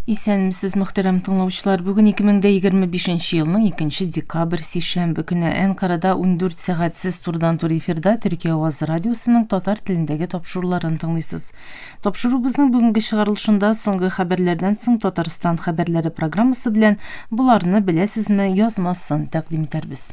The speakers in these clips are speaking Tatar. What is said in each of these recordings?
Исәнмесез, мөхтәрәм тыңлаучылар. Бүген 2025 елның 2 декабрь сишәмбе көне Әнкарада 14 сәгатьсез турыдан-тур эфирда Төркия Авазы радиосының татар телендәге тапшыруларын тыңлыйсыз. Тапшырубызның бүгенге чыгарылышында соңгы хәбәрләрдән соң Татарстан хәбәрләре программасы белән Боларны беләсезме язмасын тәкъдим итәрбез.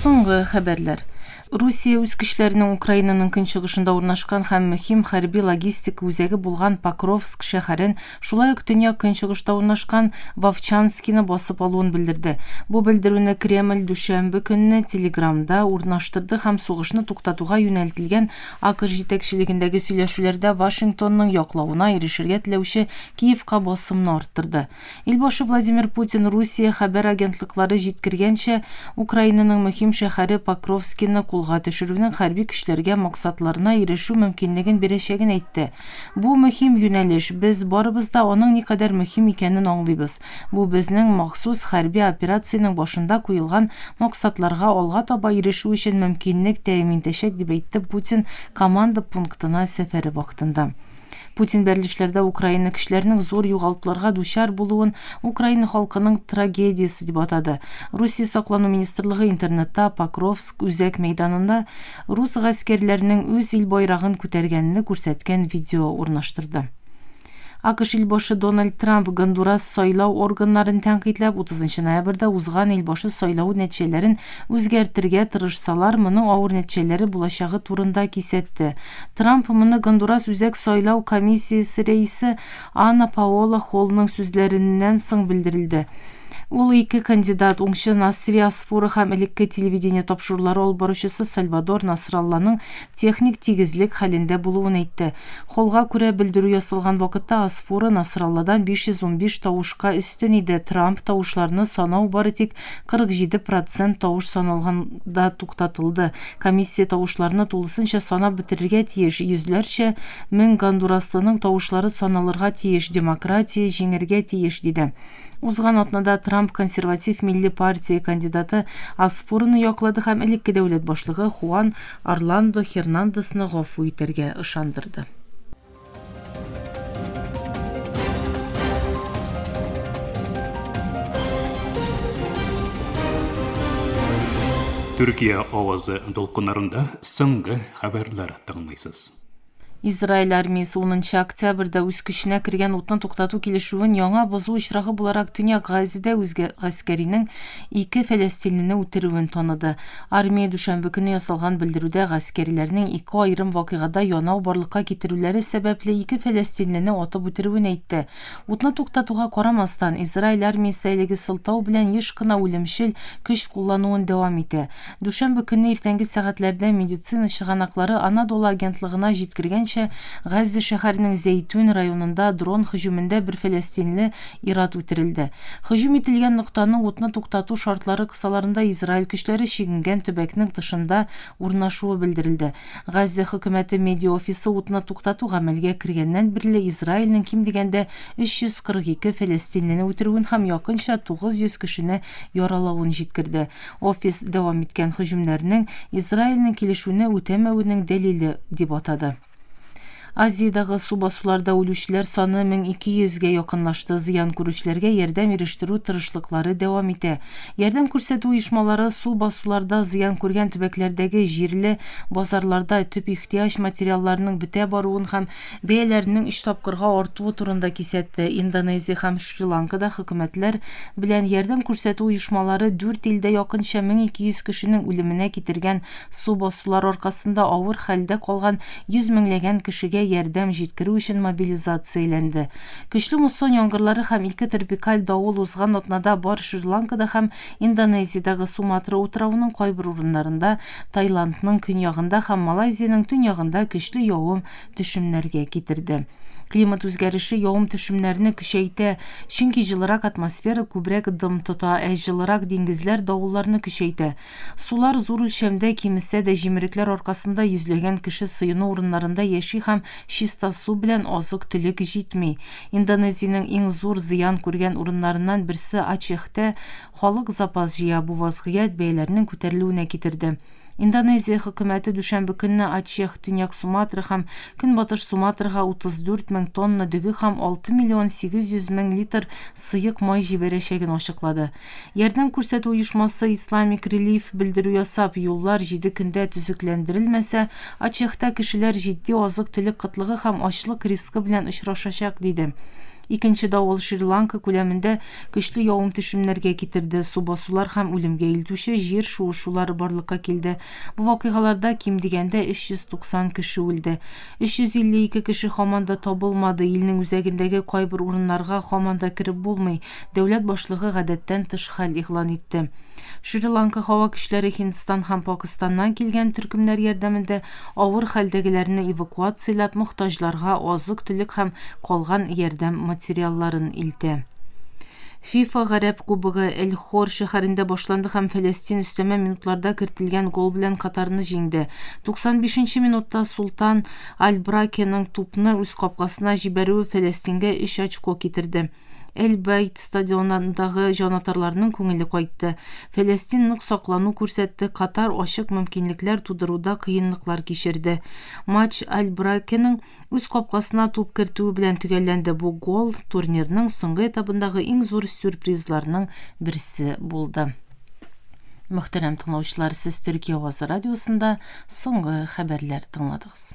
Соңгы хәбәрләр. Русия үз көчләренең Украинаның көнчыгышында урнашкан һәм мөһим хәрби-логистик үзәге булган Покровск шәһәрен Шулай ук төньяк-көнчыгышта урнашкан Вовчанскины басып алуын белдерде. Бу белдерүне Кремль дүшәмбе көнне Телеграмда урнаштырды һәм сугышны туктатуга юнәлтелгән АКШ җитәкчелегендәге сөйләшүләрдә Вашингтонның яклавына ирешергә теләүче Киевка басымны арттырды. Ил башы Владимир Путин Русия хәбәр агентлыклары җиткергәнчә, Украинаның мөһим шәһәре Покровскины кулга төшерүнең хәрби көчләргә максатларына ирешү мөмкинлеген бирәчәген әйтте. Бу мөһим юнәлеш, без барыбыз да аның никадәр мөһим икәнен аңлыйбыз. Бу безнең махсус хәрби операциянең башында куелган максатларга алга таба ирешү өчен мөмкинлек тәэмин итәчәк, дип әйтте Путин команда пунктына сәфәре вакытында. Путин бәрелешләрдә Украина көчләренең зур югалтуларга дучар булуын Украина халкының трагедиясе дип атады. Русия саклану министрлыгы интернетта Покровск үзәк мәйданында рус гаскәрләренең үз ил байрагын күтәргәнне күрсәткән видео урнаштырды. АКШ илбашы Дональд Трамп Гондурас сайлау органнарын тәнкыйтьләп, 30 ноябрьдә узган илбашы сайлавы нәтиҗәләрен үзгәртергә тырышсалар, моның авыр нәтиҗәләре булачагы турында кисәтте. Трамп моны Гондурас Үзәк сайлау комиссиясе рәисе Анна Паола Холлның сүзләреннән соң белдерелде. Ул ике кандидат, уңчы Насри Асфура һәм элекке телевидение тапшырулары алып баручысы Сальвадор Насралланың техник тигезлек хәлендә булуын әйтте. Холлга күрә, белдерү ясалган вакытта Асфура Насралладан 515 тавышка өстен иде, Трамп тавышларны санау бары тик 47 процент тавыш саналганда туктатылды. Комиссия тавышларны тулысынча санап бетерергә тиеш, йөзләрчә мең гондураслының тавышлары саналырга тиеш, демократия җиңәргә тиеш, диде. Узган атнада Трамп Консерватив милли партия кандидаты Аспуроны яклады һәм элекке дәүләт башлыгы Хуан Орландо Хернандесны гафу итәргә ышандырды. Төркия авазы дулкыннарында соңгы хәбәрләр тыңлыйсыз. Израиль армиясе 10 октябрьдә үз көченә кергән утны туктату килешүен яңа бозу очрагы буларак Төньяк Газида үзгә гаскәринең ике фәләстинлене үтерүен таныды. Армия дүшәмбе көне ясалган белдерүдә гаскәрләрнең ике аерым вакыйгада янау барлыкка китерүләре сәбәпле ике фәләстинлене атып үтерүен әйтте. Утны туктатуга карамастан, Израиль армиясе әлеге сылтау белән еш кына үлемчел көч куллануын дәвам итә. Дүшәмбе көнне иртәнге сәгатьләрдә медицина чыганаклары Анадолы агентлыгына җиткергәнчә, Газзә шәһәренең Зәйтүн районында дрон һөҗүмендә бер фәләстинле Ир-ат үтерелде. Һөҗүм ителгән ноктаны утны туктату шартлары кысаларында Израиль көчләре чигенгән төбәкнең тышында урнашуы белдерелде. Газзә хөкүмәте медиаофисы утны туктату гамәлгә кергәннән бирле Израильнең ким дигәндә 342 фәләстинлене үтерүен һәм якынча 900 кешене яралавын җиткерде. Офис дәвам иткән һөҗүмнәрнең Израильнең килешүне үтәмәвенең дәлиле дип атады. Азиядәге су басуларда үлүчеләр саны 1200 гә якынлашты. Зыян күрүчеләргә ярдәм ирештерү тырышлыклары дәвам итә. Ярдәм күрсәтү оешмалары су басуларда зыян күргән төбәкләрдәге җирле базарларда төп ихтыяҗ материалларының бетә баруын һәм бәяләренең өч тапкырга артуы турында кисәтте. Индонезия һәм Шри-Ланкада хөкүмәтләр белән ярдәм күрсәтү оешмалары дүрт илдә якынча 1200 кешенең үлеменә китергән Су басулар аркасында авыр хәлдә калган йөз меңләгән кешегә ярдәм җиткерү өчен мобилизацияләнде. Көчле муссон яңгырлары һәм ике тропикаль давыл узган атнада бар Шри-Ланкада һәм Индонезиядәге Суматра утравының кайбер урыннарында, Таиландның көньягында һәм Малайзиянең төньягында көчле явым төшемнәргә китерде. Климат үзгәреше явым-төшемнәрне көчәйтә, чөнки җылырак атмосфера күбрәк дым тота, ә җылырак диңгезләр давылларны көчәйтә. Сулар зур үлчәмдә кимесә дә, җимерекләр аркасында йөзләгән кеше сыену урыннарында яши һәм чиста су белән азык-төлек җитми. Индонезиянең иң зур зыян күргән урыннарыннан берсе Ачехтә халык запас җыя, бу вазгыять бәяләрнең күтәрелүенә китерде. Индонезия хөкүмәте дүшәмбе көнне Ачех, Төньяк Суматра һәм Көнбатыш Суматрага 34 мең тонна дөге һәм 6 миллион 800 мең литр сыек май җибәрәчәген ачыклады. Ярдәм күрсәтү оешмасы Islamic Relief белдерү ясап, юллар җиде көндә төзекләндерелмәсә, Ачехта кешеләр җитди азык-төлек кытлыгы һәм ачлык рискы белән очрашачак, диде. Икенче давыл Шри-Ланка күләмендә көчле явым-төшемнәргә китерде, су басулар һәм үлемгә илтүче җир шуышулары барлыкка килде. Бу вакыйгаларда ким дигәндә 390 кеше үлде. 352 кеше һаман да табылмады. Илнең үзәгендәге кайбер урыннарга һаман да кереп булмый. Дәүләт башлыгы гадәттән тыш хәл игълан итте. Шри-Ланка һава көчләре Һиндстан һәм Пакыстаннан килгән төркемнәр ярдәмендә авыр хәлдәгеләрне эвакуацияләп, мохтаҗларга азык-төлек һәм калган ярдәм материалларын илтә. ФИФА Гарәп кубогы Эль-Хор шәһәрендә башланды һәм Фәләстин өстәмә минутларда кертелгән гол белән Катарны җиңде. 95 нче минутта Султан Аль-Бракеның тупны үз капкасына җибәрүе Фәләстингә өч очко китерде. Эль-Байт стадионындагы җанатарларның күңеле кайтты. Фәләстин нык саклану күрсәтте, Катар ачык мөмкинлекләр тудыруда кыенлыклар кичерде. Матч Аль-Бракеның үз капкасына туп кертүе белән төгәлләнде, бу гол турнирның соңгы этабындагы иң зур сюрпризларның берсе булды. Мөхтәрәм тыңлаучылар, сез Төркия авазы радиосында соңгы хәбәрләр тыңладыгыз.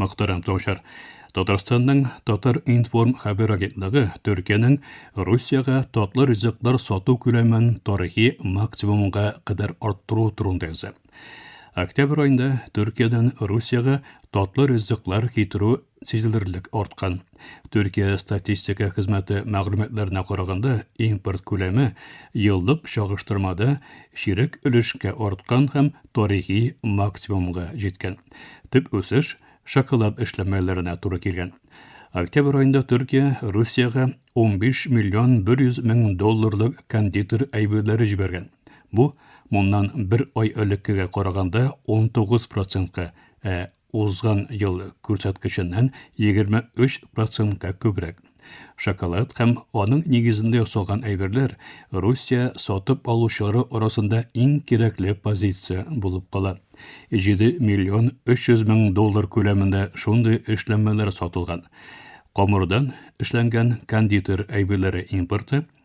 Мөхтәрәм Таучар, Татарстанның Татар информ хәбәр агентлыгы Төркиянең Русиягә татлы ризыклар сату күләмен тарихи максимумга кадәр арттыру турында яза. Октябрь айында Төркиядән Русиягә татлы ризыклар китерү сизелерлек арткан. Төркия статистика хезмәте мәгълүматларына караганда, импорт күләме еллык чагыштырмада чирек өлешкә арткан һәм тарихи максимумга җиткән. Төп үсеш шоколад эшләнмәләренә туры килгән. Октябрь аенда Төркия Русиягә 15 миллион 100 мең долларлык кондитер әйберләре җибәргән. Бу моннан бер ай элеккегә караганда 19 процентка, ә узган ел күрсәткеченнән 23 процентка күбрәк. Шоколад һәм аның нигезендә ясалган әйберләр Русия сатып алучылары арасында иң кирәкле позиция булып кала. 7 миллион 300 мең доллар күләмендә шундый эшләнмәләр сатылган. Камырдан эшләнгән кондитер әйберләре импорты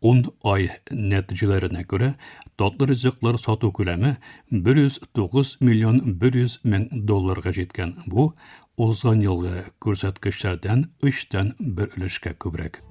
Ун ай нәтиҗәләренә күрә, татлы ризыклар сату күләме 109 миллион 100 мең долларга җиткән. Бу, узган елгы күрсәткечләрдән өчтән бер өлешкә күбрәк.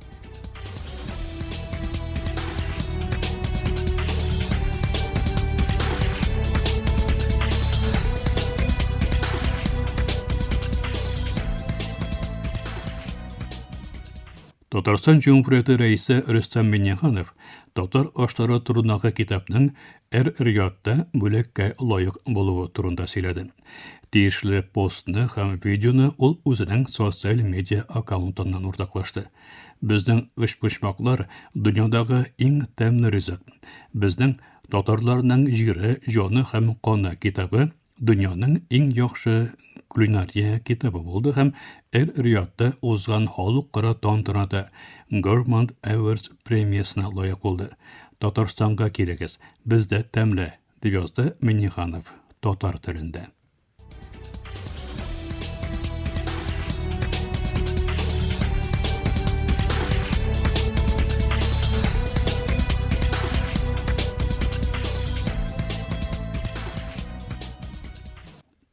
Татарстан Җөмһүрияте Рәисе Рөстәм Миңнеханов татар ашлары турындагы китапның Эр-Риядта бүләккә лаек булуы турында сөйләде. Тиешле постны һәм видеоны ул үзенең социаль медиа аккаунтыннан уртаклашты. Безнең өчпочмаклар, дөньядагы иң тәмле ризык. Безнең, татарларның җире, җаны һәм каны китабы дөньяның иң яхшы кулинария китабы булды һәм эр-риядта узган халыкара тантанада Gourmand Awards премиясенә лаек булды. Татарстанга килегез, бездә тәмле, дип язды Миннеханов татар телендә.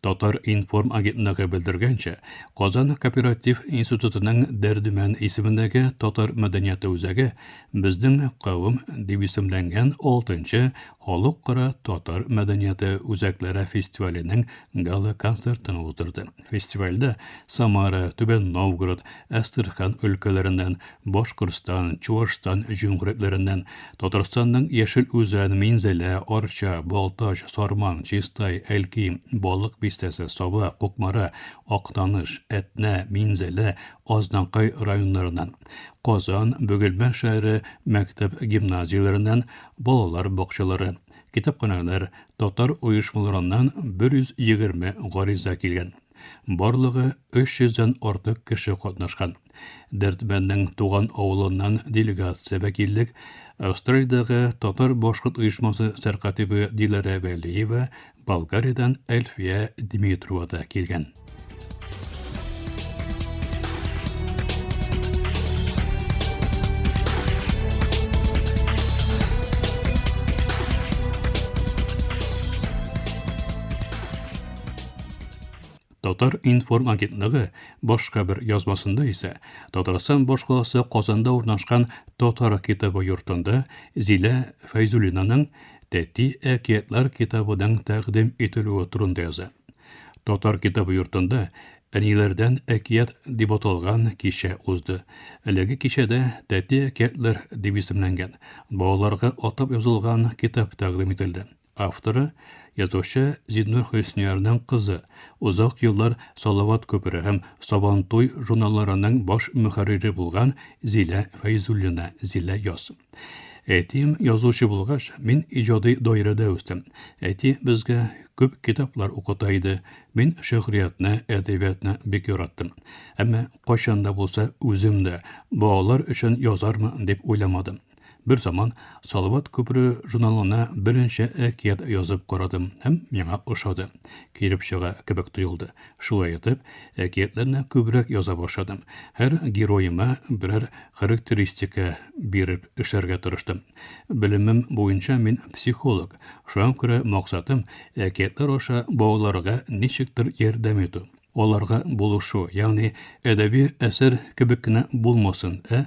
Татар информ агентлыгы белдергәнчә, Казан кооператив институтының Дәрдемән исемендәге татар мәдәнияты үзәге безнең кавым дип исемләнгән 6нчы халыкара татар мәдәнияты үзәкләре фестиваленең гала концертын уздырды. Фестивальдә Самара, Түбән Новгород, Әстерхан өлкәләреннән Башкортстан, Чуашстан җөмһүриятләреннән, Татарстанның Яшел Үзән, Минзәлә, Арча, Балтач, Сарман, Чистай, Әлки, Балык Бистәсе, Саба, Кукмара, Актаныш, Әтнә, Минзәлә, Азнакай районнарыннан, Казан, Бөгелмә шәһәре мәктәп-гимназияләреннән, балалар бакчалары, китапханәләр, татар оешмаларыннан 120 гариза килгән. Барлыгы 300 дән артык кеше катнашкан. Дәрдмәнднең туган авылыннан делегация вәкиллек Австралиядәге татар-башкорт оешмасы сәркатибы Диләрә Вәлиева, Болгариядән Әлфия Дмитрова да килгән. Татар-информ агентлыгы башка бер язмасында исә Татарстан башкаласы Казанда урнашкан Татар китабы йортында Зилә Фәйзуллинаның Тәти әкиятләр китабының тәкъдим ителүе турында яза. Татар китабы йортында Әниләрдән әкият дип аталган кичә узды. Әлеге кичәдә Тәти әкиятләр дип исемләнгән, балаларга атап язылган китап тәкъдим ителде. Авторы, язучы Зиннур Хөсниярның кызы, озак еллар Салават күпере һәм Сабантуй журналларының баш мөхәррире булган Зилә Фәйзуллина, Зилә яз. Әтием язучы булгач, мин иҗади даирәдә үстем. Әти безгә күп китаплар укыта иде. Мин шигъриятне, әдәбиятны бик яраттым. Әмма кайчан да булса үзем дә балалар өчен язармын дип уйламадым. Бер заман Салават күпере журналына берничә әкият язып карадым һәм миңа ошады. Килеп чыга кебек тоелды. Шулай итеп, әкиятләрне күбрәк яза башладым. Һәр героема берәр характеристика биреп эшләргә тырыштым. Белемем буенча мин психолог, шуңа күрә максатым әкиятләр аша балаларга ничектер ярдәм итү, аларга булышу, ягъни әдәби әсәр кебек кенә булмасын, ә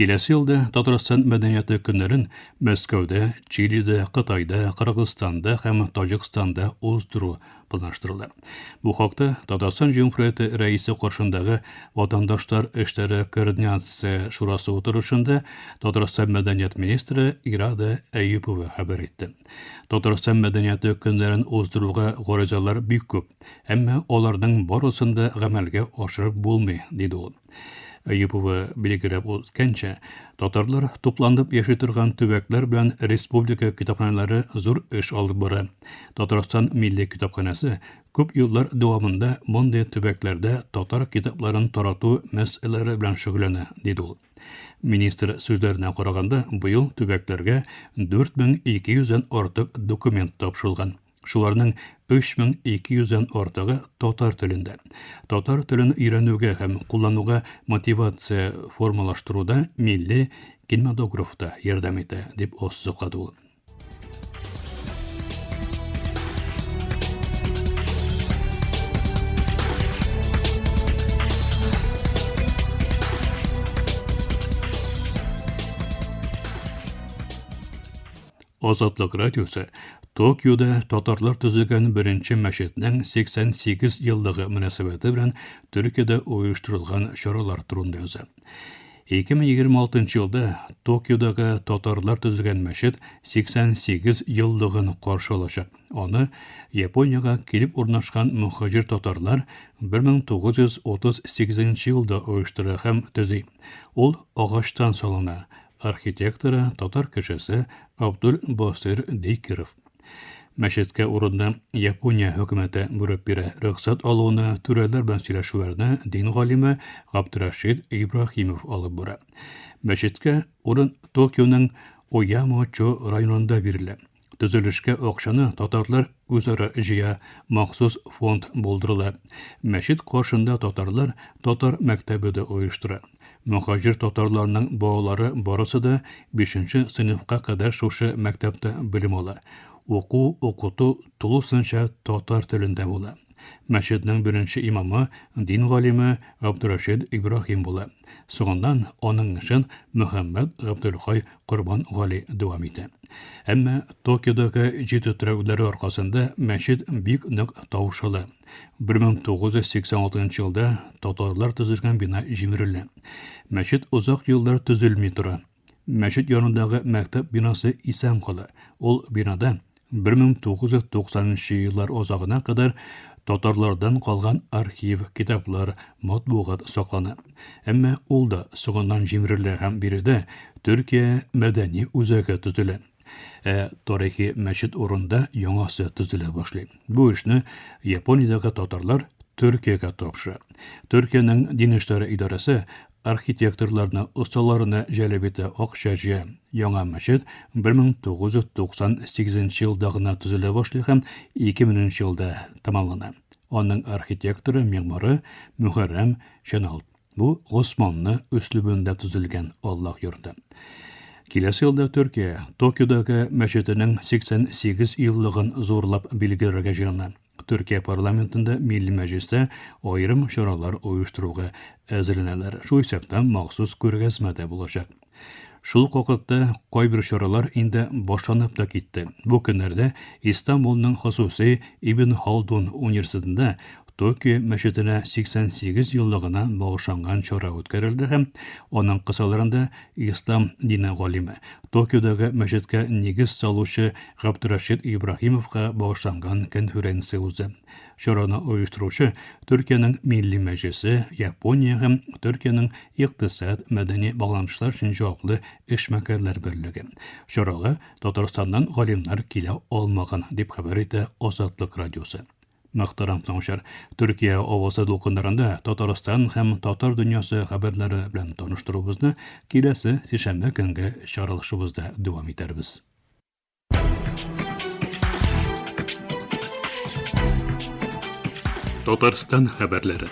Киләсе елда Татарстан мәдәнияты көннәрен Мәскәүдә, Чилидә, Кытайда, Кыргызстанда һәм Таҗикстанда уздыру планлаштырыла. Бу хакта Татарстан Җөмһүрияте Рәисе каршындагы Ватандашлар эшләре координация шурасы утырышында Татарстан мәдәният министры Ирада Әюпова хәбәр итте. Татарстан мәдәнияте көннәрен уздыруга гаризалар бик күп, әмма аларның барысын да гамәлгә ашырып булмый, диде ул. Әюпова билгеләп үткәнчә, татарлар тупланып яши торган төбәкләр белән республика китапханәләре зур эш алып бара. Татарстан милли китапханәсе күп еллар дәвамында мондый төбәкләрдә татар китапларын тарату мәсьәләләре белән шөгыльләнә, диде ул. Министр сүзләренә караганда, быел төбәкләргә 4200 дән артык документ тапшырылган. Шуларның 3200 дән артыгы татар телендә. Татар телен өйрәнүгә һәм куллануга мотивация формалаштыруда милли кинематограф та ярдәм итә, дип ассызыклады ул. Азатлык радиосы Токиода татарлар төзегән беренче мәчетнең 88 еллыгы мөнәсәбәте белән Төркиядә оештырылган чаралар турында яза. 2026 елда Токиодагы татарлар төзегән мәчет 88 еллыгын каршы алачак. Аны Япониягә килеп урнашкан мөхаҗир татарлар 1938 елда оештыра һәм төзи. Ул агачтан салына, архитекторы, татар кешесе Абдул Басыйр Дикеров. Мәчеткә урынны Япония хөкүмәте бүреп бирә. Рөхсәт алуны, түрәләр белән сөйләшүләрне дин галиме Габдрашид Ибраһимов алып бара. Мәчеткә урын Токионың Оямочо районында бирелә. Төзелешкә акчаны татарлар үзара җыя, махсус фонд булдырыла. Мәчет каршында татарлар татар мәктәбе дә оештыра. Мөхаҗир татарларның балалары барысы да бишенче сыйныфка кадәр шушы мәктәптә белем ала. Уку-укыту тулысынча татар телендә була. Мәчетнең беренче имамы, дин галиме Габдурәшид Ибраһим була. Соңыннан аның эшен Мөхәммәд Габделхай Корбан Гали дәвам итә. Әмма Токиодагы җитү терәүләре аркасында мәчет бик нык таушала. 1986 елда татарлар төзелгән бина җимерелә. Мәчет озак еллар төзелми тора. Мәчет янындагы мәктәп бинасы исән кала. Ул бинада 1990 нчы еллар азагына кадәр татарлардан калган архив, китаплар, матбугат саклана. Әмма ул да соңыннан җимерелә һәм биредә Төркия мәдәни үзәге төзелә. Ә тарихи мәчет урында яңасы төзелә башлый. Бу эшне Япониядәге татарлар Төркиягә тапшыра. Төркиянең дин эшләре идарәсе Архитекторларны, осталарны җәлеп итә Ак Чәче. Яңа мәчет 1998 елда гына төзелә башлый һәм 2000 елда тәмамлана. Аның архитекторы, мигмары Мөхәррәм Чәналт. Бу Госманлы өслүбендә төзелгән Аллаһ йорты. Киләсе елда Төркия Токиодагы мәчетенең 88 еллыгын зурлап билгеләргә җыена. Төркия парламентында, Милли Мәҗлестә аерым чаралар оештыруга әзерләнәләр, шул исәптән махсус күргәзмә дә булачак. Шул ук вакытта кайбер чаралар инде башланып та китте. Бу көннәрдә Истанбулның хосусый Ибн Халдун университетында Токио мәчетенә 88 еллыгына багышланган чара үткәрелде һәм аның кысаларында Ислам дине галиме, Токиодагы мәчеткә нигез салучы Габдрәшит Ибраһимовка багышланган конференция узды. Чараны оештыручы, Төркиянең Милли Мәҗлесе, Япония һәм Төркиянең Икътисад, мәдәни багланышлар өчен җаваплы эшмәкәрләр берлеге. Чарага Татарстаннан галимнар килә алмаган, дип хәбәр итә Азатлык радиосы. Мөхтәрәм тыңучылар, Төркия авазы дулкыннарында Татарстан һәм татар дөньясы хәбәрләре белән таныштыруыбызны киләсе сишәмбе көнге чаралышыбызда дәвам итәрбез. Татарстан хәбәрләре.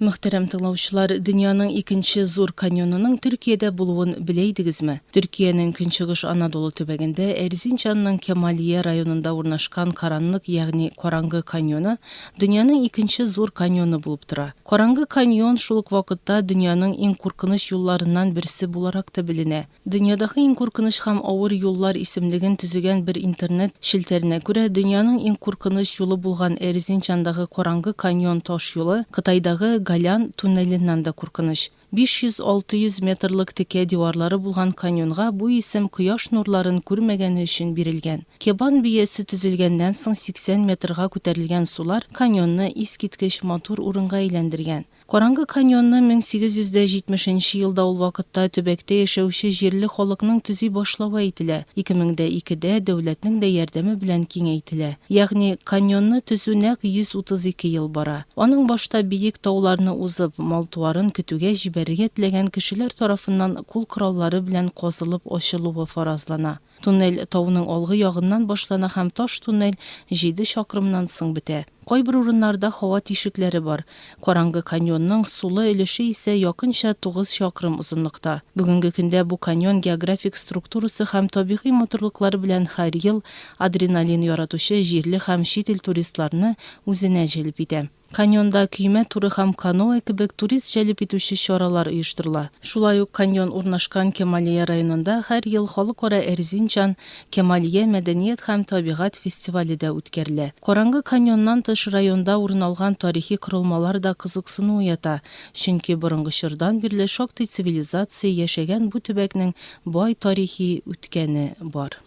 Мөхтәрәм тыңлаучылар, дөньяның икенче зур каньонының Төркиядә булуын белә идегезме? Төркиянең Көнчыгыш Анадолу төбәгендә, Эрзинчанның Кемалия районында урнашкан Каранлык, ягъни Караңгы каньоны, дөньяның икенче зур каньоны булып тора. Караңгы каньон шул ук вакытта дөньяның иң куркыныч юлларыннан берсе буларак та беленә. Дөньядагы иң куркыныч һәм авыр юллар исемлеген төзегән бер интернет челтәренә күрә, дөньяның иң куркыныч юлы булган Эрзинчандагы Караңгы каньон таш юлы Кытайдагы Голян туннеленнән дә куркыныч. 500-600 метрлык текә диварлары булган каньонга бу исем кояш нурларын күрмәгәне өчен бирелгән. Кебан биясе төзелгәннән соң 80 метрга күтәрелгән сулар каньонны искиткеч матур урынга әйләндергән. Караңгы каньонны 1870 нче елда ул вакытта төбәктә яшәүче җирле халыкның төзи башлавы әйтелә, 2002 дә дәүләтнең дә ярдәме белән киңәйтелә. Ягъни, каньонны төзү нәкъ 132 ел бара. Аның башта биек тауларны узып, мал-туарын көтүгә җибәрергә теләгән кешеләр тарафыннан кул кораллары белән казылып ачылуы фаразлана. Туннель тауның алгы ягыннан башлана һәм таш туннель җиде чакрымнан соң бетә. Кайбер урыннарда һава тишекләре бар. Караңгы каньонның сулы өлеше исә якынча тугыз чакрым озынлыкта. Бүгенге көндә бу каньон географик структурасы һәм табигый матурлыклары белән һәр ел адреналин яратучы җирле һәм чит ил туристларны үзенә җәлеп итә. Каньонда көймә туры һәм каноэ кебек турист җәлеп итүче чаралар оештырыла. Шулай ук каньон урнашкан Кемалия районында һәр ел Халыкара Эрзинчан, Кемалия мәдәният һәм табигать фестивале дә үткәрелә. Караңгы каньоннан тыш районда урын алган тарихи корылмалар да кызыксыну уята, чөнки борынгы чордан бирле шактый цивилизация яшәгән бу төбәкнең бай тарихи үткәне бар.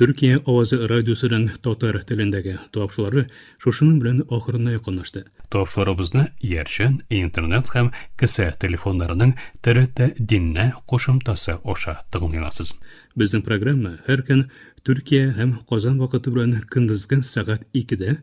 Төркия авазы радиосының татар телендәге тапшылары шушының белән ахырына якынлашты. Тапшыларыбызны Иярчен, Интернет һәм кесә телефоннарының ТРТ Диннә кушымтасы аша тыңлый аласыз. Безнең программа һәр көн Төркия һәм Казан вакыты белән көндезге сәгать икедә,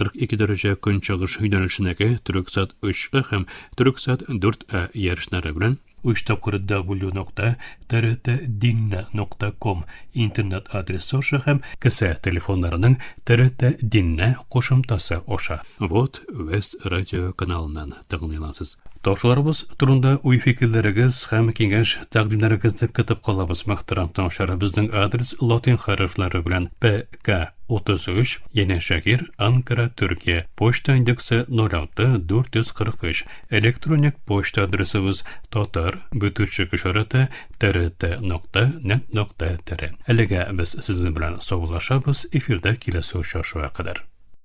42 дәрәҗә көнчыгыш юнәлешенәге Төрексат 3А һәм Төрексат 4А ярышлары белән 3 тапкыр w.trt.dinna.com интернет адресы аша һәм кесә телефоннарының TRT Dinna кушымтасы аша. Вот Вест радио каналыннан. тәкъдим итәсез. Ташуларыбыз турында уй-фикерләрегез һәм киңәш тәкъдимнәрегезне көтеп калабыз, мөхтәрәм тыңлаучылар. Безнең адрес латин хәрефләре белән ПК 33, Яне Шәһир, Анкара, Төркия. Почта индексы 06 443. Электроник почта адресыбыз татар бөтүчек ишараты трт нокта нет нокта тр. Әлегә без сезнең белән саубуллашабыз, эфирда киләсе очрашуга кадәр.